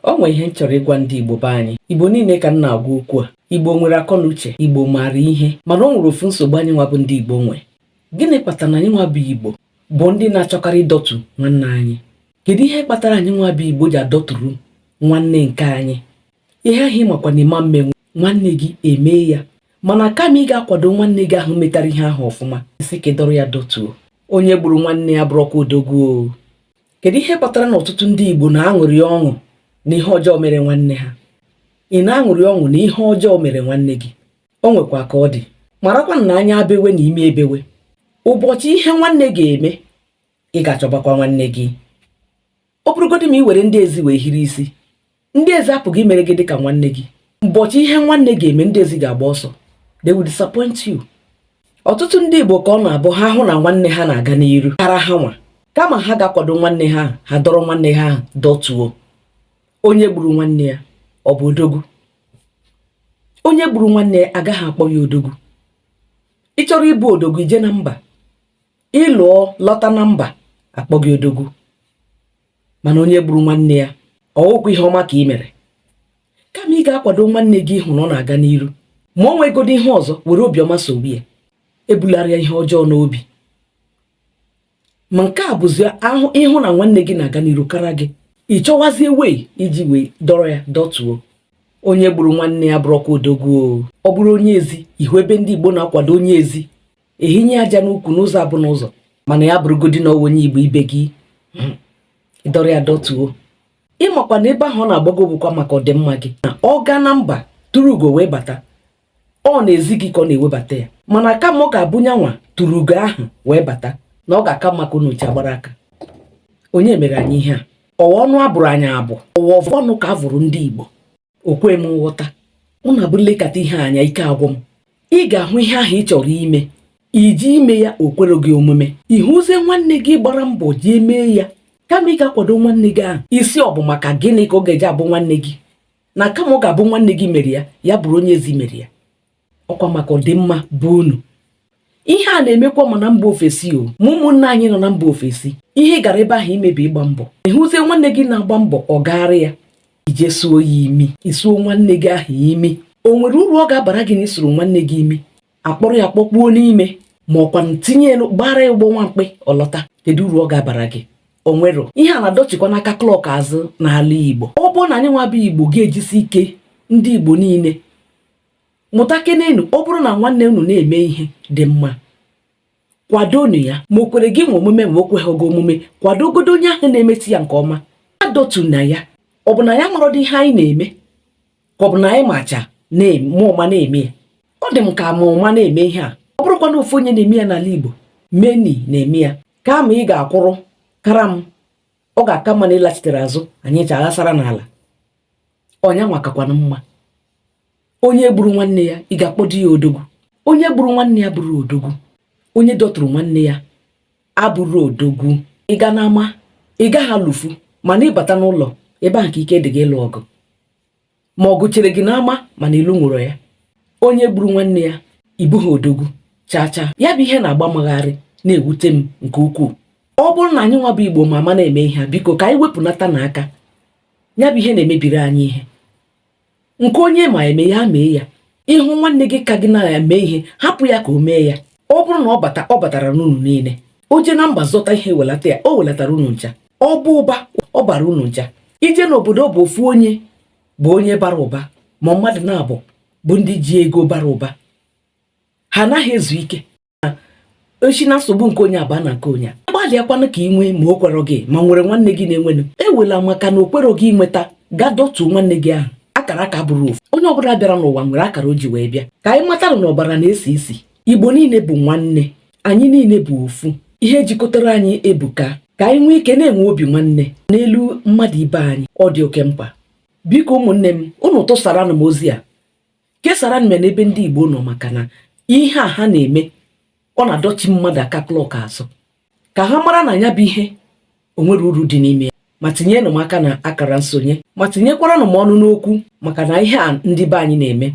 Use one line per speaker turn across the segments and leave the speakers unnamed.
o nwere ihe m chọrọ ịgwa ndị Igbo be anyị Igbo niile ka m na-agwa okwu a Igbo nwere akọ na uche Igbo maara ihe mana o nwere ofu nsogbu anyị nwa bụ ndị Igbo nwe gịnị kpatara na anyị nwa bụ Igbo bụ ndị na-achọkarị ịdọtu nwanne anyị kedu ihe kpatara anyị nwa bụ Igbo ji adọturu nwanne nke anyị ihe ahụ ị makwa na ị ma emenwu nwanne gị emee ya mana kama ị ga-akwado nwanne gị ahụ metara ihe ahụ ọfụma ị sị ka ị dọrọ ya dọtuo onye gburu nwanne ya abụrọkwa odogwu kedu ihe kpatara na ọtụtụ ndị Igbo na-aṅụrị ọṅụ na ihe ọjọọ mere nwanne ha ị na-aṅụrị ọṅụ na ihe ọjọọ mere nwanne gị o nwekwa ka ọ dị marakwa na anya bewe na imi ebewe ụbọchị ihe nwanne ga-eme ị ga-achọbakwa nwanne gị ọ bụrụgodị ma ị were ndị ezi wee hiri isi ndị ezi apụghị imere gị dị ka nwanne gị ụbọchị ihe nwanne ga-eme ndị ezi ga-agba ọsọ they will disappoint you ọtụtụ ndị Igbo ka ọ na-abụ ha hụ na nwanne ha na-aga n'iru kara ha nwa kama ha ga-akwado nwanne ha ha dọrọ nwanne ha dọtuo onye gburu nwanne ya ọ bụ odogwu onye gburu nwanne ya a gaghị akpọ ya odogwu ị chọrọ ịbụ odogwu i jee na mba ị lụọ lọta na mba a kpọọ gị odogwu mana onye gburu nwanne ya ọ wụkwa ihe ọma ka ị mere kama ị ga-akwado nwanne gị ịhụ na ọ na-aga n'iru ma o nwegodi ihe ọzọ were obiọma sogbu ya ebulara ya ihe ọjọọ n'obi ma nke a bụzi ahụ ị hụ na nwanne gị na-aga n'iru kara gị ị chọwazie way iji wee dọrọ ya dọtuo onye gburu nwanne ya abụrọkwa odogwu ọ bụrụ onye ezi ị hụ ebe ndị Igbo na-akwado onye ezi ehinye aja n'ukwu n'ụzọ abụ n'ụzọ mana ya bụrụgodi na onye igbo ibe gị ị dọrọ ya dọtuo ị makwa na ebe ahụ ọ na-agbago bụkwa maka ọdịmma gị na ọ gaa na mba turu ugo wee bata ọ n'ezi gị ka ọ na-ewebata ya mana kama ọ ga-abụ nyanwa turu ugo ahụ wee bata na ọ ga-aka mma ka unu ncha gbara aka onye mere anyị ihe a ọwa ọnụ a bụrụ anyị abụ ọwa ọnụ ka a bụrụ ndị Igbo o kwe m nghọta ọ na-abụ m lekata ihe anya ike agwụ m ị ga-ahụ ihe ahụ ị chọrọ ime i jee ime ya o kwerọ gị omume ị hụzie nwanne gị gbara mbọ jee mee ya kama ị ga-akwado nwanne gị ahụ ị sị ọ bụ maka gịnị ka ọ ga-eji abụ nwanne gị na kama ọ ga-abụ nwanne gị mere ya ya bụrụ onye ezi mere ya ọ kwa maka ọdịmma be unu ihe a na-emekwa ma na mba ofesi o ma ụmụnna anyị nọ na mba ofesi ihe ị gara ebe ahụ ime bụ ịgba mbọ ị hụzie nwanne gị na-agba mbọ ọ gaara ya i jee suo ya imi i suo nwanne gị ahụ imi o nwere uru ọ ga-abara gị na i suru nwanne gị imi a kpọrọ ya kpọkpuo n'ime ma ọkwa tinye elu gbaara ya ụgbọ nwa mkpi ọ lọta kedu uru ọ ga-abara gị o nwerọ ihe a na-adọchikwana aka clock azụ n'ala Igbo ọ bụrụ na anyị nwa bụ Igbo ga-ejisi ike ndị Igbo niile mụtakenenu ọ bụrụ na nwanne unu na-eme ihe dị mma kwadonu ya ma o kwere gịnwa omume ma o kweghị gị omume kwadogodo onye ahụ na-emeti ya nke ọma adọtuna ya ọ bụ na anyị amarọdị ihe anyị na-eme ka ọ bụ na anyị macha ma ụma na-eme ya ọ dị m ka ma ụma na-eme ihe a ọ bụrụkwa na ofu onye na-eme ya n'ala Igbo meni na-eme ya kama ị ga-akwụrụ kara m ọ ga-aka mma na ị lachitere azụ anyị ji aghasara n'ala ọ nyanwa kakwanụ mma onye gburu nwanne ya ị ga-akpọdo ya odogwu onye gburu nwanne ya abụrọ odogwu onye dọturu nwanne ya abụrọ odogwu ị ga n'ama ị gaghị alụfu mana ị bata n'ụlọ ebe ahụ ka ike dị gị ịlụ ọgụ ma ọgụ chere gị n'ama mana ị lụnwurọ ya onye gburu nwanne ya ị bụghị odogwu chaa chaa ya bụ ihe na-agba m gharịị na-ewute m nke ukwuu ọ bụrụ na anyị nwa bụ igbo ma ama na-eme ihe a biko ka anyị wepụnata na aka ya bụ ihe na-emebiri anyị ihe nke onye ma eme ya mee ya ị hụ nwanne gị ka gị na-eme ihe hapụ ya ka o mee ya ọ bụrụ na ọ bata ọ bataranụ unu niile o jee na mba zọta ihe welata ya o welatara unu ncha ọ bụ ụba ọ bara unu ncha i jee n'obodo bụ ofu onye bụ onye bara ụba ma ọ mmadụ naabọ bụ ndị ji ego bara ụba ha anaghị ezu ike o si na nsogbu nke onye a baa na nke onye a gbalịakwanụ ka ị nwee ma o kwerọ gị ma nwere nwanne gị na-enwenụ ewela maka na o kwerọ gị nweta gaa dọtuo nwanne gị ahụ akara aka abụrọ ofu onye ọbụla bịara n'ụwa nwere akara o ji wee bịa ka anyị matara na ọbara na-esi isi igbo niile bụ nwanne anyị niile bụ ofu ihe jikọtara anyị ebuka ka anyị nwee ike na-enwe obi nwanne n'elu mmadụ ibe anyị ọ dị oke mkpa biko ụmụnne m unu tụsaranụ m ozi a kesaranụ m ya n'ebe ndị Igbo nọ maka na ihe a ha na-eme ọ na-adọchi mmadụ aka klọk azụ ka ha mara na ya bụ ihe o nwerọ uru dị n'ime ya ma tinyenụ m aka na akara nsonye ma tinyekwaranụ m ọnụ n'okwu maka na ihe a ndị be anyị na-eme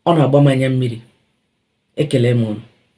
ọ na-agba m anya mmiri ekele m unu